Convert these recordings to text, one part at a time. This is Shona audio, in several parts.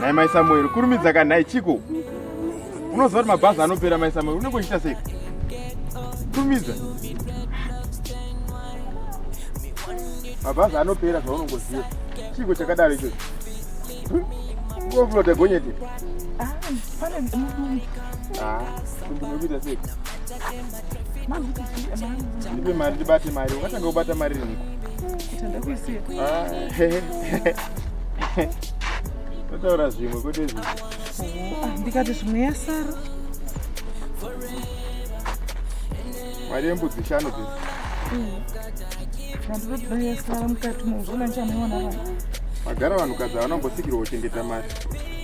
nhai mai samueri kurumidza ka nhai chiko unoziva kuti mabhazi anopera mai samueri unenge uchiita sei kurumidza mabhazi anopera zvaunongoziva chiko chakadaro ichocho ngoflota gonyete ah, ah, ndinokuita sei ndipe mari ndibate mari ungatanga kubata mari riniko totaura ah, zvimwe kwete zvi ah, ndikati zvimwe yasara mari yembudzi shanu dzi vandiroda mm. yasara mukati mozvona ndichamuona vanhu magara vanhukadzi havana kumbosikirwa kuchengeta mari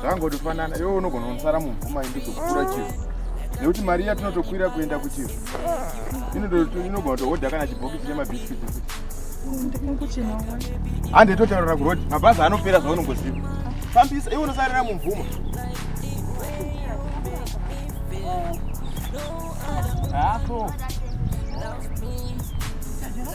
zvangotofanana iwe unogona kunosara mumvuma indizokukura chii nekuti mari iya tinotokwira kuenda kuchii inogona kutohodha kana chibhokisi chemabhiskiti hande totaurira kurodi mabhazi anopera zvaunongoziva fambisa iwe unosarira mumvuma Apple.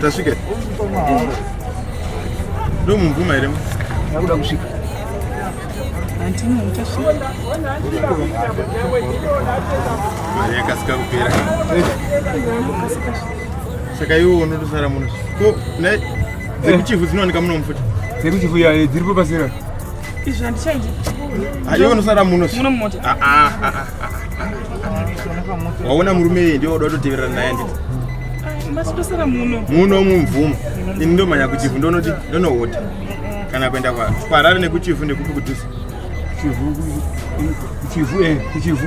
tasvika ndomumvuma here akuda kusvika mari yakasika kupera saka iwo unotosara muno ko dzekuchifu dzinowanika muno mufuti dzekuchifu yaye dziripo pasira izvi handichaiti aiwe nosara muno muno mumota ah, ah, ah, waona murume iye ndiwo uda toteverera naye nditi masitosara muno muno mumvumo ini ndomanya kuchifu ndonoti ndonohota kana kuenda kwa kwarari nekuchifu nekupi kutusa chifu eh, chifu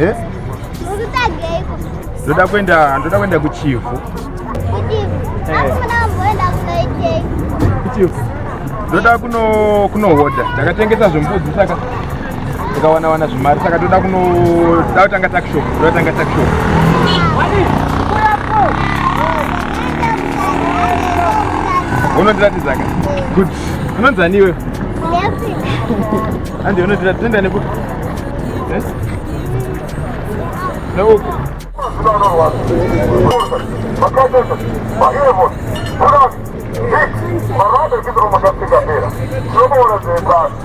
Eh? ndoda kuenda ndoda kuenda kuchivhu kuchivhu ndoda kunohodha ndakatengesa zvembudzi saka tikawana wana zvimari saka toda kunoda kutanga takshop toda kutanga takshop unondiratidzaka good unonzi ani iwewe andi unondirati toenda nekupi eh? neupi Thank you.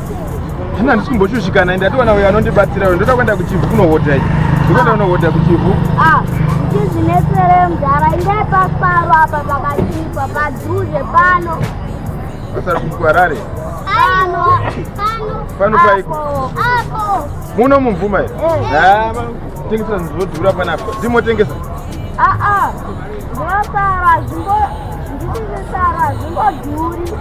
zvino handisi kumboshushikana ende atiwana uyo anondibatsira uyo ndoda kuenda kuchivhu kunohodha i ndokuenda kunohodha kuchivhu ah, ndizvinesere mdhara ingai pasiparo apa pakachipa padhuze pano pasari kukuharare pano paiko muno mumvuma i eh. tengesa zvinodhura panapa ndimotengesa aa ah, ah. ndosara zvingo ndisisisara zvingodhuri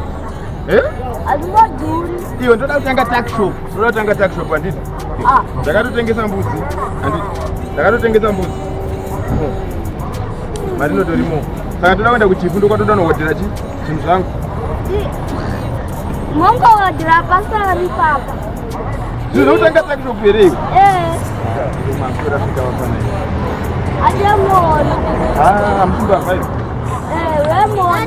Eh? Hazvingadhuri. Iwe ndoda kutanga takshop. Ndoda kutanga takshop handiti? Ah. Ndakatotengesa mbudzi. Handiti? Ndakatotengesa mbudzi. Mari inotorimo. Saka ndoda kuenda kuchifu ndokwatoda nohodhera chi zvinhu zvangu. Mongo hodhera pasara ripapa. Zvinhu zvokutanga takshop here iwe? Eh. Makura fika wafana iwe. Ademoona. Ah, mtumba five. Eh, wemoona.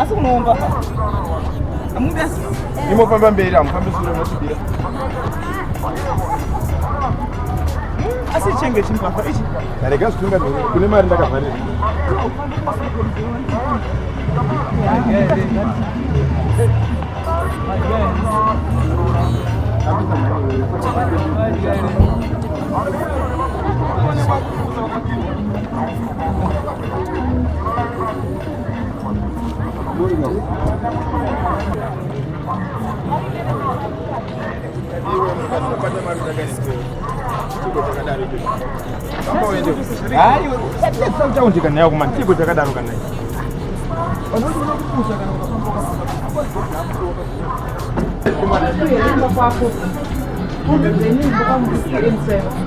asi kunoomba amude imofamba mberi amufambi sure motibira asi chenge chimbavha ichi arega zvitunga kune mari ndakavharira Thank you. hayi utaundi kana yako mani chiko chakadaro kana Thank you.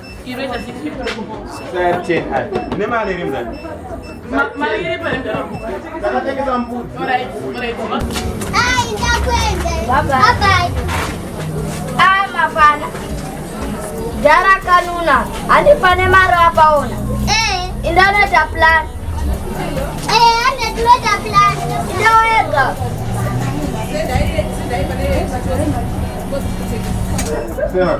Jara kanuna, andi pane maro apaona. Eh. Indaneta plan. Eh, andi tinota plan. Ndawega. Sera,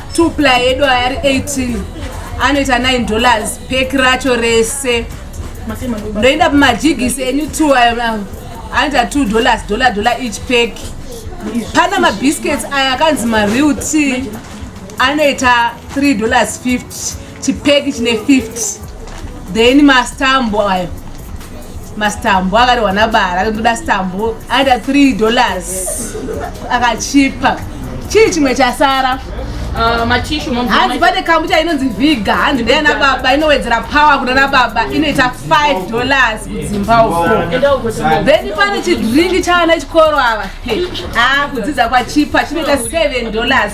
two ply yedu aya ari 18 anoita 9 dollars pek racho rese ndoenda pamajigisi enyu two ayo anoita two dollars dollar dollar each pek pana mabiscuits aya akanzi mareal t anoita 3 dollars 50 chipeki chine 50 then mastambo ayo mastambo akarehwa nabara akandoda stambo aita 3 dollars akachipa chii chimwe chasara Uh, hanzi pane kambucha inonzi viga hanzi ndeyana baba inowedzera power kuna na baba inoita 5 dollars kudzimba uko then pane chidringi chavana chikoro ava a ah, kudzidza kwachipa chinoita 7 dollars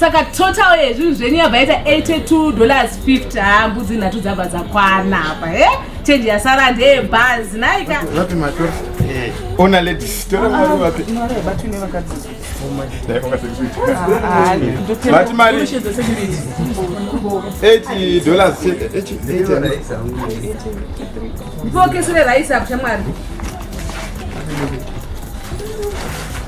saka total yezvinhu zvenyu yabva yaita 82 dollars 50 haa mbudzi nhatu dzabva dzakwana apa he eh? change yasara ndeye bhazi naika zvapi matora eh, ona ladies tora ah, mari vapi vati mari 8 dollars ndipokesere raisi apo shamwari